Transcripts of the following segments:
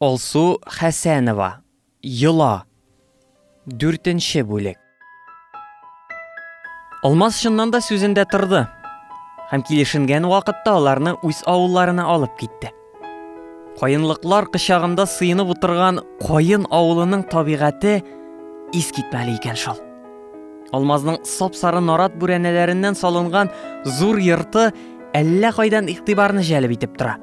Алсу Хәсәнова, Йола. Дүртенче бүлек. Алмаз чыннан да сүзендә торды һәм килешенгән вакытта аларны үз авылларына алып китте. Каенлыклар кычагында сыенып утырган Каен авылының табигате искитмәле икән шул. Алмазның сап-сары нарат бүрәнәләреннән салынган зур йорты әллә кайдан игътибарны җәлеп итеп тора.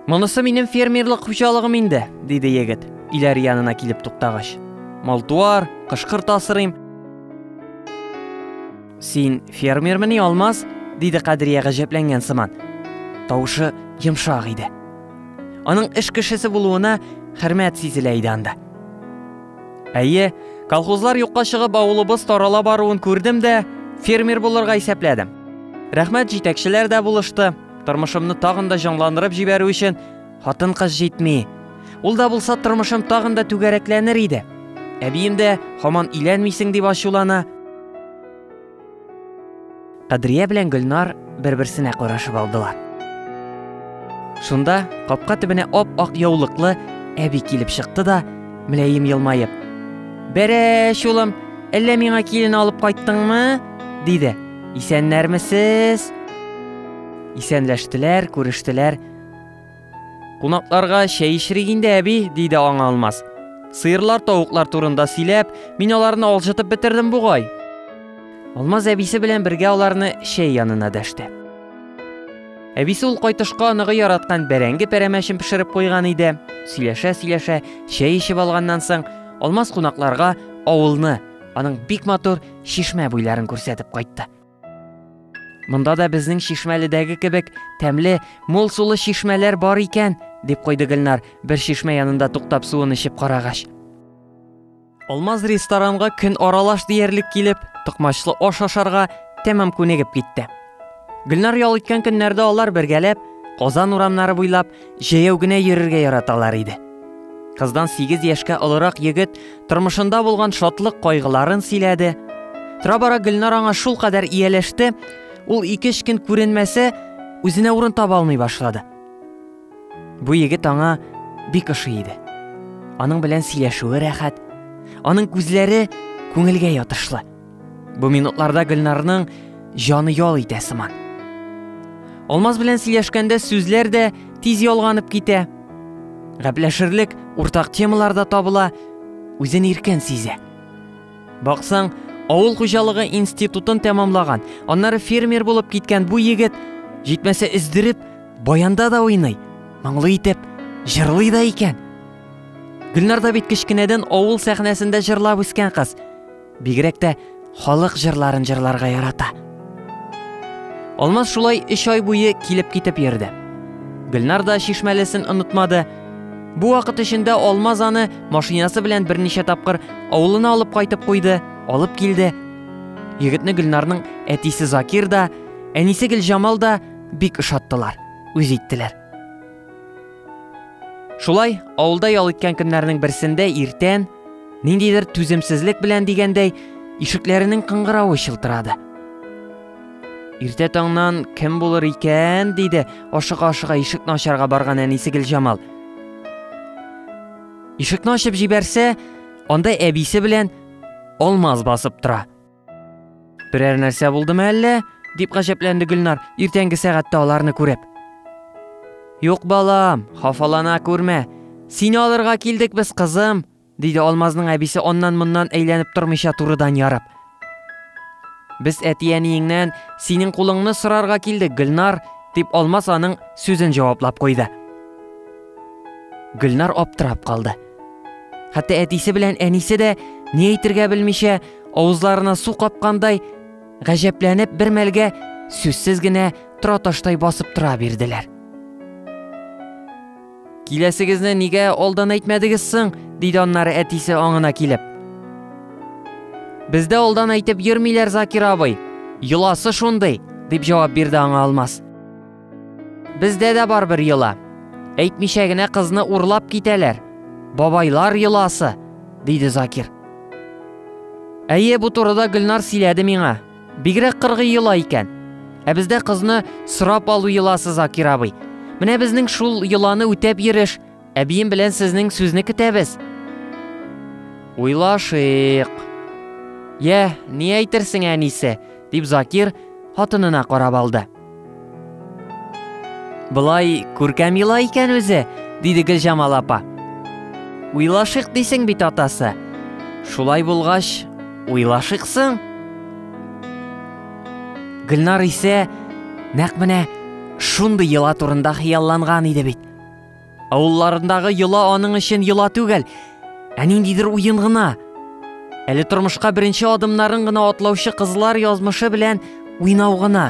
Монысы минем фермерлык хуҗалыгым инде, диде егет, иләр янына килеп туктагач. Малтуар, кышкырт асырыйм. Син фермермени, Алмаз? диде Кадрия гаҗәпләнгән сыман. Тавышы йомшак иде. Аның эш кешесе булуына хөрмәт сизелә иде анда. Әйе, колхозлар юкка чыгып авылыбыз тарала баруын күрдем дә, фермер булырга исәпләдем. Рәхмәт җитәкчеләр дә булышты. Тормышымны тагын да җанландырып җибәрү өчен хатын-кыз җитми. Ул да булса тормышым тагын да түгәрәкләнер иде. Әбием дә һаман иләнмисең дип ачулана. Кадрия белән Гөлнар бер-берсенә карашып алдылар. Шунда капка төбенә ап-ак яулыклы әби килеп чыкты да, мөләем елмаеп, «Бәрәш, улым, әллә миңа килен алып кайттыңмы?» диде. Исәннәрмесез? Исәнләштеләр, күрештеләр. Кунакларга чәй эчерик инде, әби, диде аңа Алмаз. Сыерлар, тавыклар турында сөйләп, мин аларны алҗытып бетердем бугай. Алмаз әбисе белән бергә аларны чәй янына дәште. Әбисе ул кайтышка аныгы яраткан бәрәңге пәрәмәчен пешереп куйган иде. Сөйләшә-сөйләшә чәй эчеп алганнан соң, Алмаз кунакларга авылны, аның бик матур чишмә буйларын күрсәтеп кайтты. Монда да безнең чишмәледәге кебек тәмле, мул сулы чишмәләр бар икән, дип куйды Гөлнар, бер чишмә янында туктап суын эчеп карагач. Алмаз ресторанга көн аралаш диярлек килеп, токмачлы аш ашарга тәмам күнегеп китте. Гөлнар ял иткән көннәрдә алар бергәләп Казан урамнары буйлап җәяү генә йөрергә яраталар иде. Кыздан 8 яшькә олырак егет тормышында булган шатлык кайгыларын сөйләде. Тора-бара Гөлнар аңа шул кадәр ияләште, ул ике көн күренмәсә, үзенә урын таба алмый башлады. Бу егет аңа бик ошый иде. Аның белән сөйләшүе рәхәт, аның күзләре күңелгә ятышлы. Бу минутларда Гөлнарның җаны ял итә сыман. Алмаз белән сөйләшкәндә сүзләр дә тиз ялганып китә. Гәпләшерлек уртак темалар да табыла, үзен иркен сизә. Баксаң, авыл хуҗалыгы институтын тәмамлаган, аннары фермер булып киткән бу егет җитмәсә өздереп баянда да уйный, моңлы итеп җырлый да икән. Гөлнар да бит кечкенәдән авыл сәхнәсендә җырлап үскән кыз. Бигрәк тә халык җырларын җырларга ярата. Алмаз шулай өч ай буе килеп китеп йөрде. Гөлнар да чишмәлесен онытмады. Бу вакыт эчендә Алмаз аны машинасы белән берничә тапкыр авылына алып кайтып куйды, алып килде. Егетне Гөлнарның әтисе Закир да, әнисе Гөлҗамал да бик ошаттылар, үз иттеләр. Шулай, авылда ял иткән көннәрнең берсендә иртән, ниндидер түземсезлек белән дигәндәй, ишекләренең кыңгыравы чылтырады. Иртә таңнан кем булыр икән, диде ашыга-ашыга ишекне ачарга барган әнисе Гөлҗамал. Ишекне ачып җибәрсә, анда әбисе белән Алмаз басып тора. Берәр нәрсә булдымы әллә? дип гаҗәпләнде Гөлнар, иртәнге сәгатьтә аларны күреп. Юк, балам, хафалана күрмә. Сине алырга килдек без, кызым, диде Алмазның әбисе аннан-моннан әйләнеп тормыйча турыдан ярып. Без әти-әниеңнән синең кулыңны сорарга килдек, Гөлнар, дип Алмаз аның сүзен җаваплап куйды. Гөлнар аптырап калды. Хәтта әтисе белән әнисе дә ни әйтергә белмичә, авызларына су капкандай, гаҗәпләнеп бер мәлгә сүзсез генә тора таштай басып тора бирделәр. Киләсегезне нигә алдан әйтмәдегез соң? диде аннары әтисе аңына килеп. Бездә алдан әйтеп йөрмиләр, Закир абый. Йоласы шундый, дип җавап бирде аңа Алмаз. Бездә дә бар бер йола. Әйтмичә генә кызны урлап китәләр. Бабайлар йоласы, диде Закир. Әйе, бу турыда Гөлнар сөйләде миңа. Бигрәк кыргый йола икән. Ә бездә кызны сорап алу йоласы Закир абый. Менә безнең шул йоланы үтәп йөреш. Әбием белән сезнең сүзне көтәбез. Уйлашыйк. Йә, ни әйтерсең әнисе, дип Закир хатынына карап алды. Былай күркәм ела икән үзе, диде Гөлҗамал апа. Уйлашык дисең бит атасы. Шулай булгач, уйлашыксың. Гөлнар исә нәкъ менә шундый йола турында хыялланган иде бит. Авылларындагы йола аның өчен йола түгел, ә ниндидер уен гына. Әле тормышка беренче адымнарын гына атлаучы кызлар язмышы белән уйнау гына.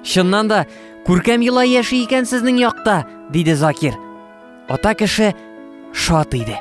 Чыннан да, күркәм йола яши икән сезнең якта, диде Закир. Ата кеше шат иде.